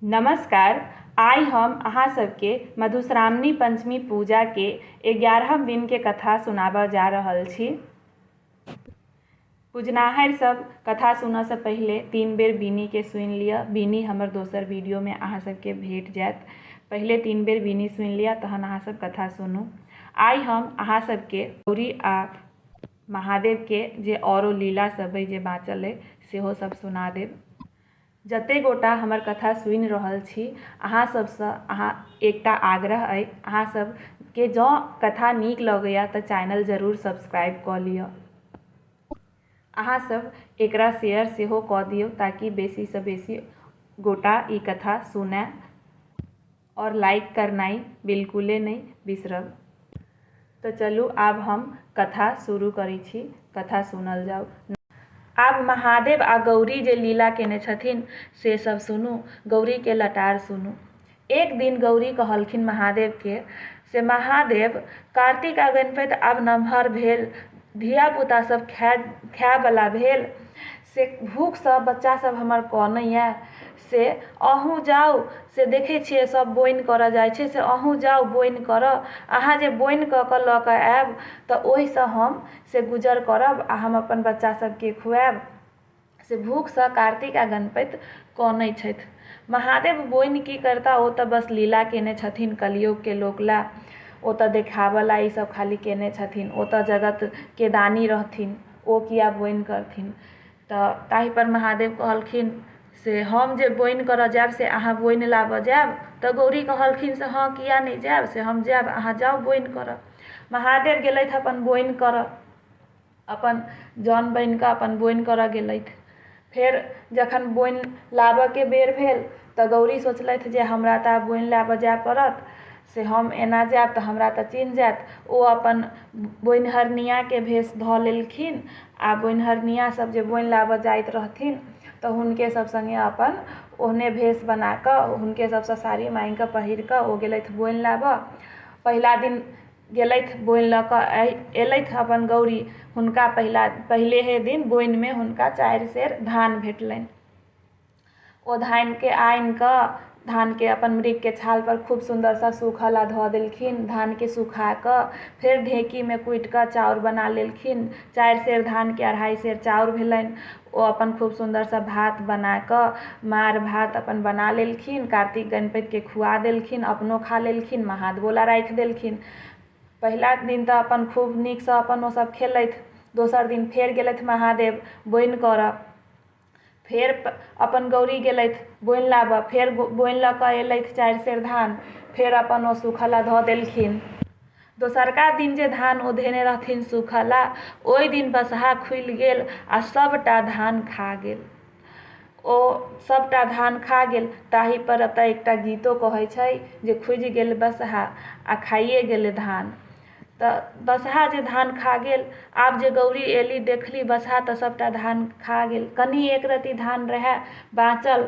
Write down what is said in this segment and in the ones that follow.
नमस्कार आइ हम अहाँ सबके मधुश्रावणी पंचमी पूजा के एगारहम दिन के कथा सुनाबऽ जा रहल छी पूजनाहर सब कथा सुनऽ से पहिले तीन बेर बीनी के सुनि लिअ बीनी हमर दोसर वीडियो में अहाँ सबके भेट जायत पहिले तीन बेर बीनी सुनि लिअ तहन अहाँ सब कथा सुनू आइ हम अहाँ सबके गौरी आ महादेव के जे औरो लीला सब अइ जे बाँचल अइ सेहो सब सुना देब जते गोटा हमर कथा सुनि रहल छी अहाँ सबसँ अहाँ एकटा आग्रह अइ अहाँ सबके जँ कथा नीक लगैए तऽ चैनल जरूर सब्सक्राइब कऽ लिअ अहाँ सब एकरा शेयर सेहो कऽ दियौ ताकि बेसीसँ बेसी गोटा ई कथा सुनै आओर लाइक करनाइ बिल्कुले नहि बिसरब तऽ चलू आब हम कथा शुरू करै छी कथा सुनल जाउ आब महादेव आ गौरी जे लीला केने छथिन से सब सुनू गौरी के लटार सुनू एक दिन गौरी कहलखिन महादेव के से महादेव कार्तिक आ गणपति आब नमहर भेल धिया पुता सब खाय खाय बला भेल से भूखसँ बच्चा सभ हमर कनैए से अहूँ जाउ से देखै छिए सभ बोनि करऽ जाइ छै से अहूँ जाउ बोनि करऽ अहाँ जे बोनि कऽ कऽ लऽ कऽ आएब तऽ ओहिसँ हम से गुजर करब आओर हम अपन बच्चा सभके खुआएब से भूखसँ कार्तिक आओर गणपति कनै छथि महादेव बोनि कि करिता ओ तऽ बस लीला केने छथिन कलयुगके लोकलए ओ तऽ देखाबऽलए ईसब खाली केने छथिन ओ तऽ जगतके दानी रहथिन ओ किएक बोनि करथिन तऽ ताहिपर महादेव कहलखिन से हम जे बोनि करऽ जाएब से अहाँ बोनि लाबऽ जाएब तऽ गौरी कहलखिन से हँ किएक नहि जाएब से हम जाएब अहाँ जाउ बोनि करऽ महादेव गेलथि अपन बोनि करऽ अपन जन बनिकऽ अपन बोनि करऽ गेलथि फेर जखन बोनि लाबऽके बेर भेल तऽ गौरी सोचलथि जे हमरा तऽ आब बोनि लाबऽ जाइ पड़त से हम एना जायब तऽ हमरा तऽ चिन्ह जायत ओ अपन बोनिहरनियाँके भेष धऽ लेलखिन आओर बोनिहरनियाँ सब जे बोनि लाबऽ जाइत रहथिन तऽ हुनके सब सङ्गे अपन ओहने भेष बनाकऽ हुनके सबसँ साड़ी माङ्गिकऽ पहिरकऽ ओ गेलथि बोनि लाबऽ पहिला दिन गेलथि बोनि लऽ कऽ अयलथि अपन गौरी हुनका पहिला पहिलेहे दिन बोनिमे हुनका चारि सेर धान भेटलनि ओ धानके आनि कऽ धानके अपन मृगके छालपर खूब सुन्दरसँ सूखऽ लए धऽ देलखिन धानके सुखा कऽ फेर ढेकीमे कुटि कऽ चाउर बना लेलखिन चारि सेर धानके अढ़ाइ सेर चाउर भेलनि ओ अपन खूब सुन्दरसँ भात बना कऽ मारि भात अपन बना लेलखिन कार्तिक गणपतिके खुआ देलखिन अपनो खा लेलखिन महादेवो लए राखि देलखिन पहिला दिन तऽ अपन खूब नीकसँ अपन ओ सब खेलथि दोसर दिन फेर गेलथि महादेव बोनि करऽ फेर अपन गौरी गेलथि बोनि लाबऽ फेर बोनि लऽ कऽ एलथि चारि सेर धान फेर अपन ओ सूखऽ लए धऽ देलखिन दोसरका दिन जे धान ओ धेने रहथिन सुखला ओहि दिन बसहा खुलि गेल आ सभटा धान खा गेल ओ सभटा धान खा गेल ताहि पर एतऽ एकटा गीतो कहै छै जे खुजि गेल बसहा आ खाइए गेलै धान तऽ बसहा जे धान खा गेल आब जे गौरी एली देखली बसहा तऽ सभटा धान खा गेल कनि एक रत्ती धान रहै बाँचल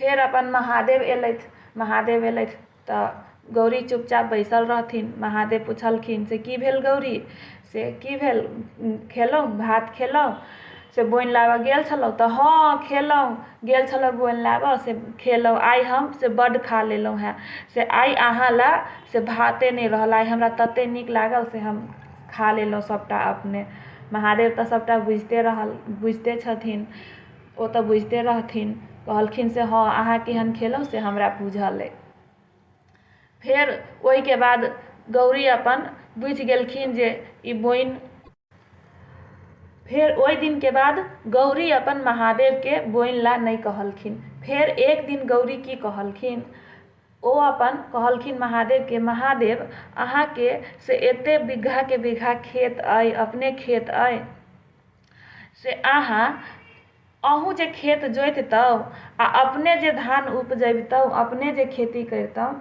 फेर अपन महादेव एलथि महादेव एलथि तऽ गौरी चुपचाप बैसल रहथिन महादेव पुछलखिन से की भेल गौरी से की भेल खेलहुँ भात खेलहुँ से बोनि लाबऽ गेल छलहुँ तऽ हँ खेलहुँ गेल छलहुँ बोनि लाबऽ से खेलहुँ आइ हम से बड्ड खा लेलहुँ हँ से आइ अहाँ लऽ से भाते नहि रहल आइ हमरा तते नीक लागल से हम खा लेलहुँ सभटा अपने महादेव तऽ सभटा बुझिते रहल बुझिते छथिन ओ तऽ बुझिते रहथिन कहलखिन से हँ अहाँ केहन खेलहुँ से हमरा बुझल अइ फेर ओहिके बाद गौरी अपन बुझि गेलखिन जे ई बोइन फेर ओहि दिनके बाद गौरी अपन महादेवके बोइन ला नहि कहलखिन फेर एक दिन गौरी की कहलखिन ओ अपन कहलखिन महादेवके महादेव अहाँके से एते बीघाके बीघा खेत अइ अपने खेत अइ से अहाँ अहूँ जे खेत जोतितहुँ आ अपने जे धान उपजबितहुँ अपने जे खेती करितहुँ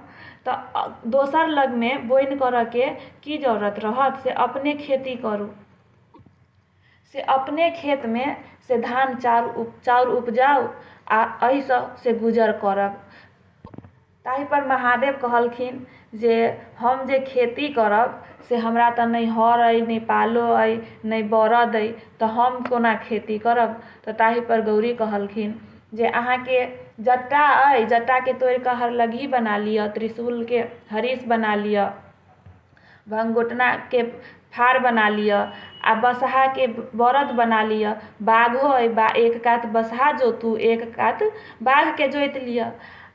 तऽ दोसर लगमे बोनि करयके की जरूरत रहत से अपने खेती करू से अपने खेतमे से धान चाउर चाउर उपजाउ आ एहिसँ से गुजर करब ताहिपर महादेव कहलखिन जे हम जे खेती करब से हमरा तऽ नहि हर अइ नहि पालो अइ नहि बरद अइ तऽ हम कोना खेती करब तऽ ताहिपर गौरी कहलखिन जे अहाँके जट्टा अइ जट्टाके तोड़िकऽ हरलगही बना लिअ त्रिशूलके हरीश बना लिअ भङ्गोटनाके फार बना लिअ आओर बसहाके बरद बना लिअ बाघो अइ एक कात बसहा जोतू एक कात बाघके जोति लिअ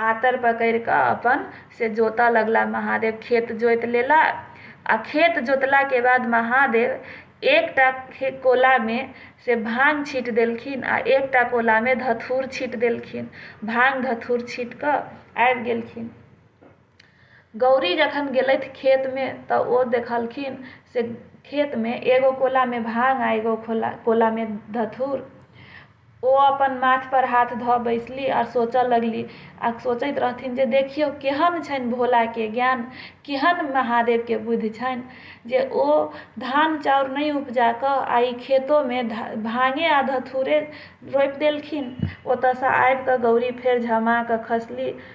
आतर पकड़ि कऽ अपन से जोतय लगला महादेव खेत जोति लेला आ खेत जोतला के बाद महादेव एकटा कोला मे से भांग छीट देलखिन आ एकटा कोला मे धथूर छीट देलखिन भांग धथूर छीट कऽ आबि गेलखिन गौरी जखन गेलथि खेतमे तऽ ओ देखलखिन से खेतमे एगो कोलामे भांग आ एगो खोला कोलामे धथुर ओ अपन माथ पर हाथ धऽ बैसली आ सोचऽ लगली आ सोचैत रहथिन जे देखियौ केहन छनि भोलाके ज्ञान केहन महादेवके बुद्धि छनि जे ओ धान चाउर नहि उपजा कऽ आ ई खेतोमे भांगे आ धथुरे रोपि देलखिन ओतऽसँ आबि कऽ गौरी फेर झमा कऽ खसली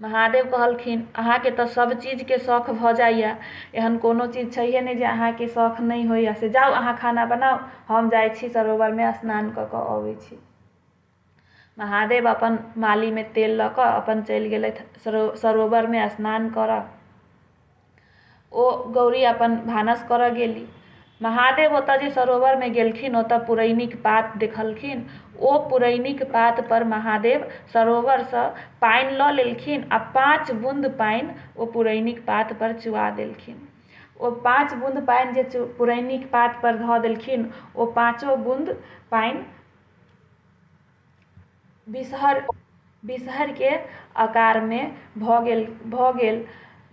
महादेव कहलखिन अहाँके तऽ सब चीजके शौख भऽ जाइए एहन कोनो चीज छैहे नहि जे अहाँके शौख नहि होइए से जाउ अहाँ खाना बनाउ हम जाइ छी सरोवरमे स्नान कऽ कऽ अबै छी महादेव अपन मालीमे तेल लऽ कऽ अपन चलि गेलथि सरो सरोवरमे स्नान करऽ ओ गौरी अपन भानस करऽ गेली महादेव ओतऽ जे सरोवरमे गेलखिन ओतऽ पुरैनीके पात देखलखिन ओ पुरैनीके पातपर महादेव सरोवरसँ पानि लऽ लेलखिन आओर पाँच बूँद पानि ओ पुरैनीके पातपर चुआ देलखिन ओ पाँच बूँद पानि जे चु पुरैनीके पातपर धऽ देलखिन ओ पाँचो बूँद पानि बिसहर बिसहरके अकारमे भऽ गेल भऽ गेल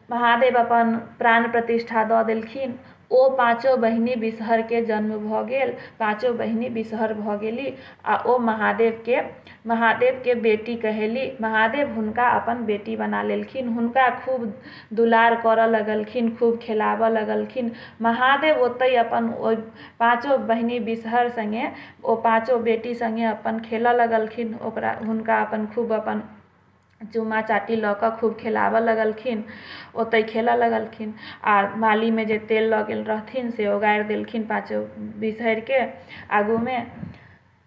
महादेव अपन प्राण प्रतिष्ठा दऽ देलखिन ओ पाँचो बहिनी बिसहरके जन्म भऽ गेल पाँचो बहिनी बिसहर भऽ गेली आ ओ महादेवके महादेवके बेटी कहेली महादेव हुनका अपन बेटी बना लेलखिन हुनका खूब दुलार करऽ लगलखिन खूब खेलाबऽ लगलखिन महादेव ओतै अपन ओहि पाँचो बहिनी बिसहर सङ्गे ओ पाँचो बेटी सङ्गे अपन खेलऽ लगलखिन ओकरा हुनका अपन खूब अपन चुमा चाटी लऽ कऽ खूब खेलाबऽ लगलखिन ओतै खेलऽ लगलखिन आओर बालीमे जे तेल लऽ गेल रहथिन से ओगारि देलखिन पाँचो बिसहरिके आगूमे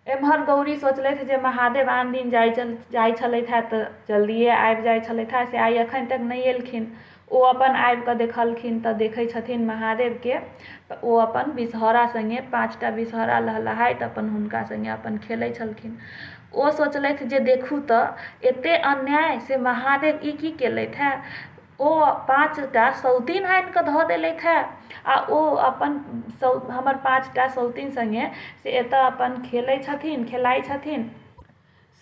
एमहर गौरी सोचलथि जे महादेव आन दिन जाइ छलथि जाइ छलथि हँ तऽ जल्दिये आबि जाइ छलथि हँ से आइ एखन तक नहि एलखिन ओ अपन आबि कऽ देखलखिन तऽ देखै छथिन महादेवके तऽ ओ अपन विषहरा सङ्गे पाँचटा विषहरा लहलहाइत अपन हुनका सङ्गे अपन खेलै छलखिन ओ सोचलथि जे देखू तऽ एते अन्याय से महादेव ई की केलथि हँ ओ पाँचटा सौतिन आनि कऽ धऽ देलथि हँ आ ओ अपन हमर पाँचटा सौतिन सङ्गे से एतऽ अपन खेलै छथिन खेलाइ छथिन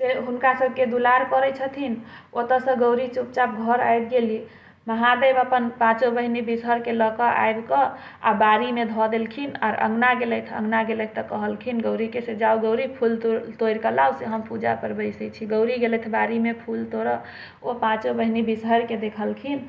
से हुनका सबके दुलार करै छथिन ओतऽ सँ गौरी चुपचाप घर आबि गेलि महादेव अपन पाँचो बहिनी बिसहर के लऽ कऽ आबि कऽ आ बाड़ी मे धऽ देलखिन आर अँगना गेलथि अँगना गेलथि तऽ कहलखिन गौरी के से जाउ गौरी फूल तूल तोरि कऽ लाउ से हम पूजा पर बैसै छी गौरी गेलथि बाड़ी मे फूल तोरऽ ओ पाँचो बहिनी बिसहर के देखलखिन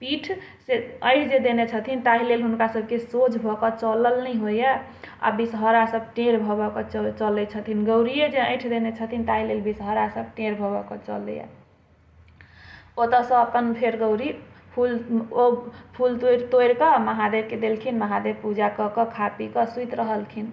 पीठ से अढ़ि जे देने छथिन ताहि लेल हुनका सभके सोझ भऽ कऽ चलल नहि होइए आ विषहरा सभ टेढ़ भऽ भऽ कऽ चलै छथिन गौरिये जे अँठि देने छथिन ताहि लेल विषहरा सभ टेढ़ भऽ भऽ कऽ चलैए ओतऽसँ अपन फेर गौरी फूल ओ फूल तोड़ि तोड़ि कऽ महादेवके देलखिन महादेव पूजा कऽ कऽ खा पी कऽ सुति रहलखिन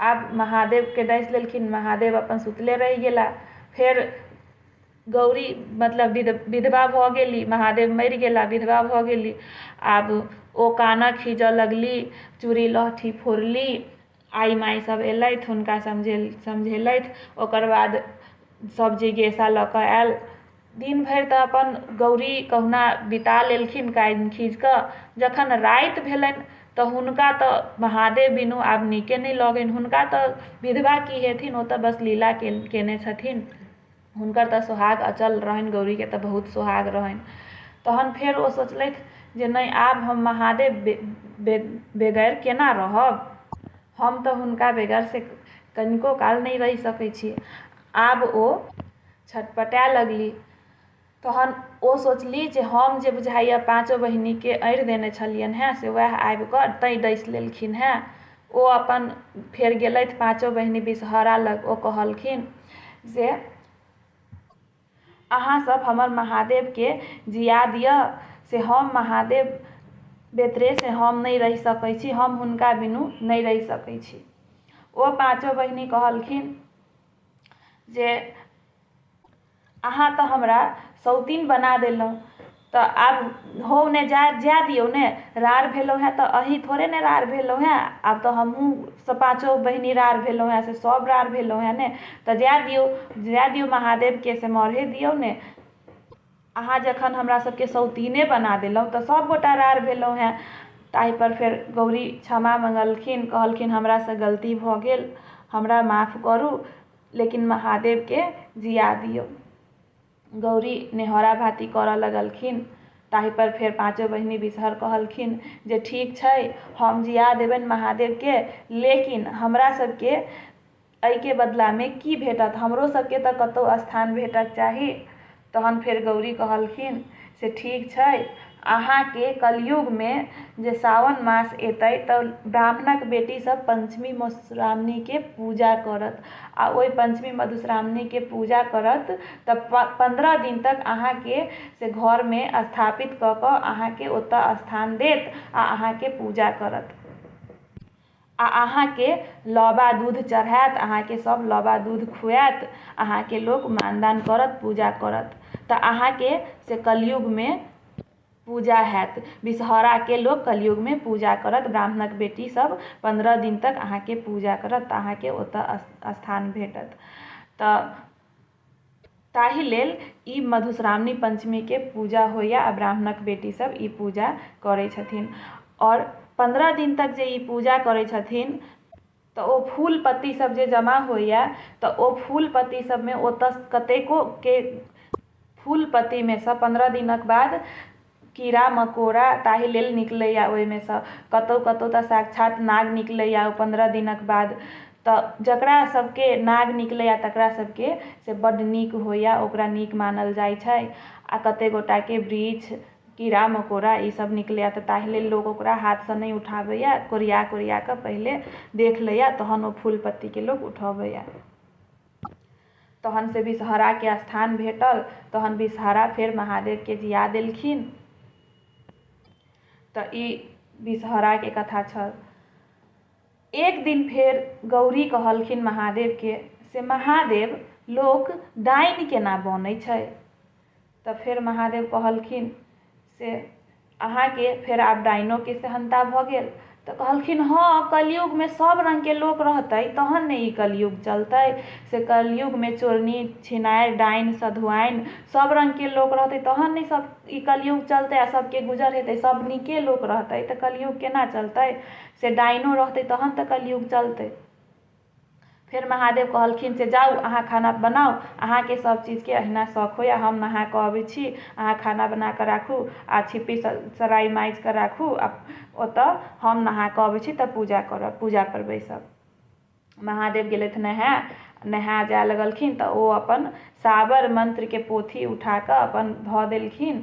आब महादेवके डसि लेलखिन महादेव अपन सुतले रहि गेला फेर गौरी मतलब विध विधवा भऽ गेली महादेव मरि गेला विधवा भऽ गेली आब ओ कानऽ खीजऽ लगली चूड़ी लहठी फोड़ली आइ माइ सब अएलथि हुनका समझे समझेलथि ओकर बाद सब जिज्ञासा लऽ कऽ आएल दिन भरि तऽ अपन गौरी कहुना बिता लेलखिन कानि खींच कऽ जखन राति भेलनि तऽ हुनका तऽ महादेव बिनु आब नीके नहि लगनि हुनका तऽ विधवा की हेथिन ओ तऽ बस लीला केने छथिन हुनकर तऽ सोहाग अचल रहनि गौरीके तऽ बहुत सोहाग रहनि तहन फेर ओ सोचलथि जे नहि आब हम महादेव बेगर केना रहब हम तऽ हुनका बेगर से कनिको काल नहि रहि सकै छी आब ओ छटपटाए लगली तहन ओ सोचली जे हम जे बुझाइए पाँचो बहिनके अढ़ि देने छलियनि हेँ से उएह आबि कऽ तैँ डसि लेलखिन हेँ ओ अपन फेर गेलथि पाँचो बहिन विषहरा लग ओ कहलखिन जे अहाँसभ हमर महादेवके जिया दिअ से हम महादेव बेतरे से हम नहि रहि सकै छी हम हुनका बिनु नहि रहि सकै छी ओ पाँचो बहिनी कहलखिन जे अहाँ तऽ हमरा सौतीन बना देलहुँ तऽ आब हो ने जाय जाय दियौ ने राड़ भेलहुँ हेँ तऽ अहीँ थोड़े ने राड़ भेलहुँ हेँ आब तऽ हमहूँ से पाँचो बहिनी राड़ भेलहुँ हेँ से सभ राड़ भेलहुँ हेँ ने तऽ जाय दियौ जाय दियौ महादेवके से मरहे दियौ ने अहाँ जखन हमरा सबके सौतिने बना देलहुँ तऽ सब गोटा रार भेलहुँ हँ ताहिपर फेर गौरी क्षमा मङ्गलखिन कहलखिन हमरासँ गलती भऽ गेल हमरा माफ करू लेकिन महादेवके जिआ दिऔ गौरी निहोरा भाति करऽ लगलखिन ताहिपर फेर पाँचो बहिनी बिसहर कहलखिन जे ठीक छै हम जिआ देबनि महादेवके लेकिन हमरा सबके अइके बदलामे की भेटत? हमरो सबके त कतौ स्थान भेटक चाही। तहन फेर गौरी कहलखिन, से ठीक छै। अहाँके कलयुगमे जे सावन मास एतै त ब्राह्मणक बेटी सब पंचमी मधुश्रावणीके पूजा करत। आ ओइ पंचमी मधुश्रावणीके पूजा करत त पन्द्रह दिन तक अहाँके से घरमे स्थापित क क अहाँके ओतऽ स्थान देत आ अहाँके पूजा करत। आ अहाँकेँ लबा दूध चढ़ाएत अहाँकेँ सभ लबा दूध खुआएत अहाँकेँ लोक मानदान करत पूजा करत तऽ अहाँकेँ से कलयुगमे पूजा होएत विषहराके लोक कलयुगमे पूजा करत ब्राह्मणक बेटीसभ पन्द्रह दिन तक अहाँकेँ पूजा करत तऽ अहाँकेँ ओतय स्थान भेटत तऽ ताहि लेल ई मधुश्रावणी पञ्चमीके पूजा होइए आओर ब्राह्मणके बेटी सब ई पूजा करै छथिन आओर पन्द्रह दिन तक जे ई पूजा करै छथिन तऽ ओ फूल पत्ती सब जे जमा होइए तऽ ओ फूल पत्ती सबमे ओतऽ कतेकोके फूल पत्तीमे सँ पन्द्रह दिनके बाद कीड़ा मकोड़ा ताहि लेल निकलैए ओहिमेसँ कतहु कतहु तऽ साक्षात नाग निकलैए पनरह दिनके बाद तऽ जकरासबके नाग निकलैए तकरासबके से बड्ड नीक होइए ओकरा नीक मानल जाइ छै आओर कतेक गोटाके बिरिछ कीड़ा मकोड़ा ईसब निकलैए तऽ ताहि लेल लोक ओकरा हाथसँ नहि उठाबैए कोरिआ कोरिआकऽ पहिले देख लैए तहन ओ फूल पत्तीके लोक उठबैए तहन से विषहराके स्थान भेटल तहन विषहरा फेर महादेवके जिया देलखिन तऽ ई विषहराके कथा छल एक दिन फेर गौरी कहलखिन महादेवके से महादेव लोक डाइन केना बनै छै तऽ फेर महादेव कहलखिन से अहाँके फेर आब डाइनोके सहनता भऽ गेल तऽ कहलखिन हँ कलयुगमे सब रङ्गके लोक रहतै तहन ने ई कलयुग चलतै से कलयुगमे चोरनी छिनारि डाइन सधुआइन सब रङ्गके लोक रहतै तहन ने सब ई कलयुग चलतै आओर सबके गुजर हेतै सब नीके लोक रहतै तऽ कलयुग केना चलतै से डाइनो रहतै तहन तऽ कलयुग चलतै फेर महादेव कहलखिन से जाउ अहाँ खाना बनाउ अहाँके सब चीजके अहिना शौक होइए हम नहा कऽ अबै छी अहाँ खाना बना कऽ राखू आओर छिप्पी सराइ माजि कऽ राखू आओर ओतऽ हम नहा कऽ अबै छी तब पूजा करब पूजापर बैसब महादेव गेलथि नहाय नहाय जाय लगलखिन तऽ ओ अपन साबर मन्त्रके पोथी उठा कऽ अपन धऽ देलखिन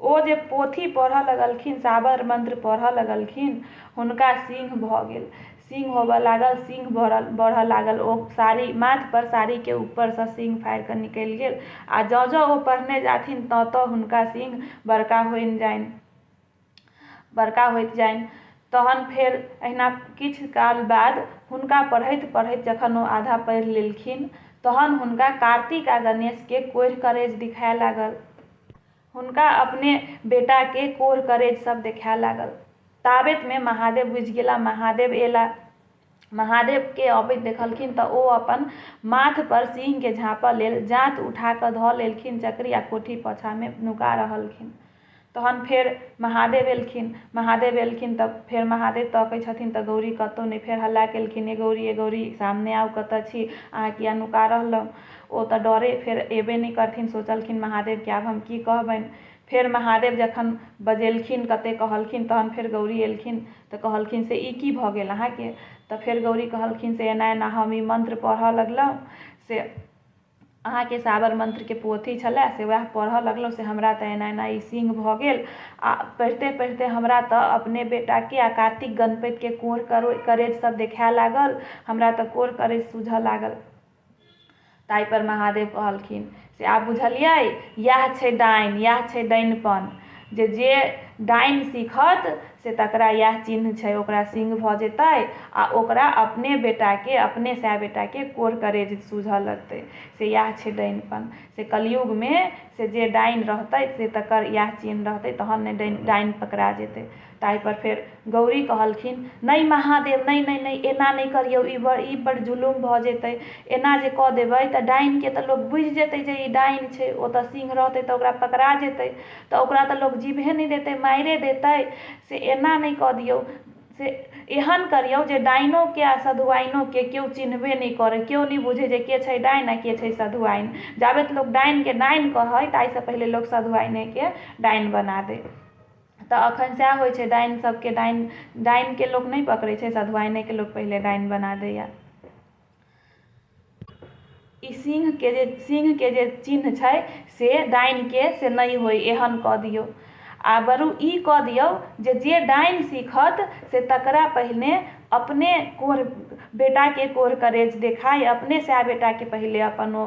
ओ जे पोथी पढ़ऽ लगलखिन, साबर मंत्र पढ़ऽ लगलखिन, हुनका सिंह भऽ गेल। सिंह होबऽ लागल, सिंह बढ़ऽ लागल। ओ साड़ी, माथ पर साड़ी के ऊपर सँ सिंह फाड़ि कऽ निकलि गेल। आ जँ-जँ ओ पढ़ने जाथिन तँ-तँ हुनका सिंह बड़का होइन जाइन, बड़का होइत जाइन। तहन फेर एहिना किछु काल बाद हुनका पढ़ैत-पढ़ैत जखन ओ आधा पढ़ि लेलखिन तहन हुनका कार्तिक आ गणेश के कोढ़ि-करेज दिखाए लागल। हुनका अपने बेटाकेँ कोर-करेज सभ देखाए लागल। ताबेतमे महादेव बुझि गेला। महादेव एला। महादेवकेँ अबैत देखलखिन तँ ओ अपन माथपर सिंहकेँ झाँपऽ लेल जाँत उठा कऽ धऽ लेलखिन। चकरी आ कोठी पाछाँमे नुका रहलखिन। तहन फेर महादेव एलखिन। महादेव एलखिन तँ फेर महादेव तकै छथिन तँ गौरी कतौ नहि। फेर हल्ला केलखिन, ए गौरी, ए गौरी, सामने आउ, कतऽ छी? अहाँ किए नुका रहलौं? ओ तऽ डरे फेर एबे नहि करथिन सोचलखिन महादेवके आब हम की कहबनि फेर महादेव जखन बजेलखिन कते कहलखिन तहन फेर गौरी एलखिन तऽ कहलखिन से ई की भऽ गेल अहाँके तऽ फेर गौरी कहलखिन से एना एना हम ई मंत्र पढ़ऽ लगलहुँ से अहाँके साबर मंत्रके पोथी छलै से वएह पढ़ऽ लगलहुँ से हमरा तऽ एना एना ई सिंह भऽ गेल आ पढ़िते पढ़िते हमरा तऽ अपने बेटाके आ कार्तिक गणपतिके कोढ़ करेज सब देखाए लागल हमरा तऽ कोढ़ करेज सूझऽ लागल ताहिपर महादेव कहलखिन से आब बुझलिए इएह छै डाइन इएह छै डाइनपन जे जे डाइन सीखत से तकरा इएह चिन्ह छै ओकरा सिङ्ग भऽ जेतै आओर ओकरा अपने बेटाके अपने सएह बेटाके कोढ़ करेज सुझऽ लगतै से इएह छै डाइनपन से कलयुगमे से जे डाइन रहतै से तकर इएह चिन्ह रहतै तहन ने डाइन डाइन पकड़ा जेतै ताहिपर फेर गौरी कहलखिन नहि महादेव नहि नहि नहि एना नहि करियौ ई बड़ ई बड़ जुलुम भऽ जेतै एना जे कऽ देबै तऽ डाइनके तऽ लोक बुझि जेतै जे ई डाइन छै ओ तऽ सिंह रहतै तऽ ओकरा पकड़ा जेतै तऽ ओकरा तऽ लोक जीबहे नहि देतै मारिये देतै से एना नहि कऽ दियौ से एहन करियौ जे डाइनोके आओर सधुआइनोके केओ चिन्हबे नहि करै केओ नहि बुझै जे के छै डाइन आओर के छै सधुआइन जाबेत लोक डाइनके डाइन कहै ताहिसँ पहिले लोक सधुआइनेके डाइन बना दै तऽ एखन सएह होइ छै डाइन सबके डाइन डाइनके लोक नहि पकड़ै छै सधुआइनेके लोक पहिले डाइन बना दैए ई सिंहके जे सिंहके जे चिन्ह छै से डाइनके से नहि होइ एहन कऽ दियौ आ बरू ई कऽ दियौ जे जे डाइन सीखत से तकरा पहिने अपने कोढ़ बेटाके कोढ़ करेज देखाइ अपने सएह बेटाके पहिले अपन ओ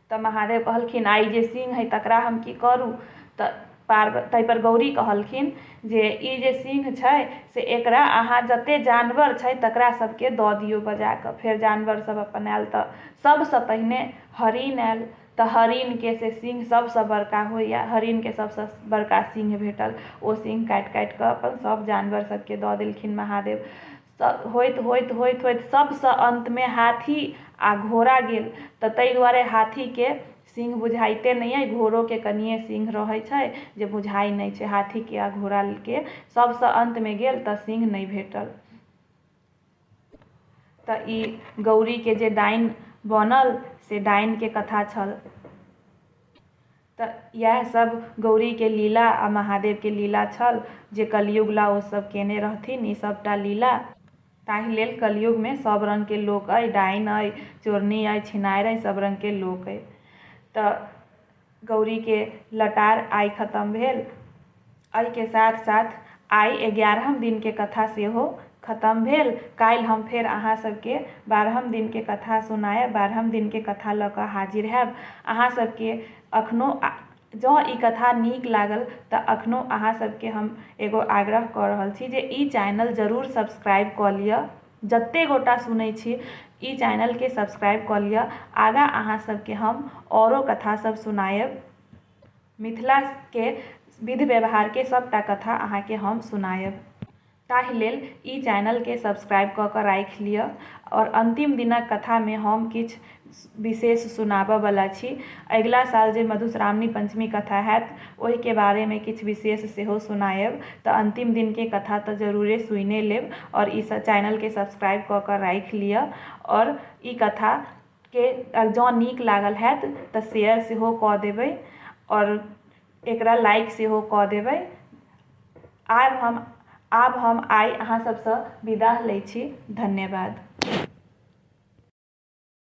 तऽ महादेव कहलखिन आइ जे सिंह हइ तकरा हम की करू तऽ पार्व ताहिपर गौरी कहलखिन जे ई जे सिंह छै से एकरा अहाँ जते जानवर छै तकरा सबके दऽ दियौ बजाकऽ फेर जानवर सब अपन आयल तऽ सबसँ पहिने हरिण आयल तऽ हरिणके से सिंह सबसँ बड़का होइए हरिणके सबसँ बड़का सिंह भेटल ओ सिंह काटि काटिकऽ अपन सब जानवर सबके दऽ देलखिन महादेव होइत होइत होइत होइत सभसँ अन्तमे हाथी आ घोड़ा गेल तऽ ताहि दुआरे हाथीके सिंह बुझाइते नहि अइ घोड़ोके कनिये सिंह रहै छै जे बुझाइ नहि छै हाथीके आ घोड़ाके सभसँ अन्तमे गेल तऽ सिंह नहि भेटल तऽ ई गौरीके जे डाइन बनल से डाइनके कथा छल त यैह सब गौरी के लीला आ महादेव के लीला छल जे कलयुग ला ओ सब केने रहथिन ई सब टा लीला। ताहि लेल कलयुग मे सब रंग के लोक अइ, डाइन अइ, चोरनी अइ, छिनाएर अइ, सब रंग के लोक अइ। त गौरी के लटार आइ खतम भेल। अइ के साथ साथ आइ एगारहम दिन के कथा सेहो खतम भेल। काल्हि हम फेर अहाँ सब के बारहम दिन के कथा सुनायब। बारहम दिन के कथा ल क हाजिर हैब। अहाँ सब के अखनो जं इ कथा नीक लागल त अखनो अहाँ सब के हम एगो आग्रह क रहल छी जे इ चैनल जरूर सब्सक्राइब क लिय। जते गोटा सुनय छी इ चैनल के सब्सक्राइब क लिय। आगा अहाँ सब के हम औरो कथा सब सुनायब। मिथिलाके विध व्यवहारके सभटा कथा अहाँके हम सुनायब ताहि लेल ई चैनलके सब्सक्राइब कऽ कऽ राखि लिअ आओर अन्तिम दिनक कथामे हम किछु विशेष सुनाबऽ बला छी अगिला साल जे मधुश्रावणी पञ्चमी कथा होयत ओहिके बारेमे किछु विशेष सेहो सुनायब तऽ अन्तिम दिनके कथा तऽ जरूरे सुनिये लेब आओर ई चैनलके सब्सक्राइब कऽ कऽ राखि लिअ आओर ई कथा के जँ नीक लागल हैत तऽ शेयर सेहो कऽ देबै आओर एकरा लाइक सेहो कऽ देबै आब हम आब हम आइ अहाँ सभसँ विदा लै छी धन्यवाद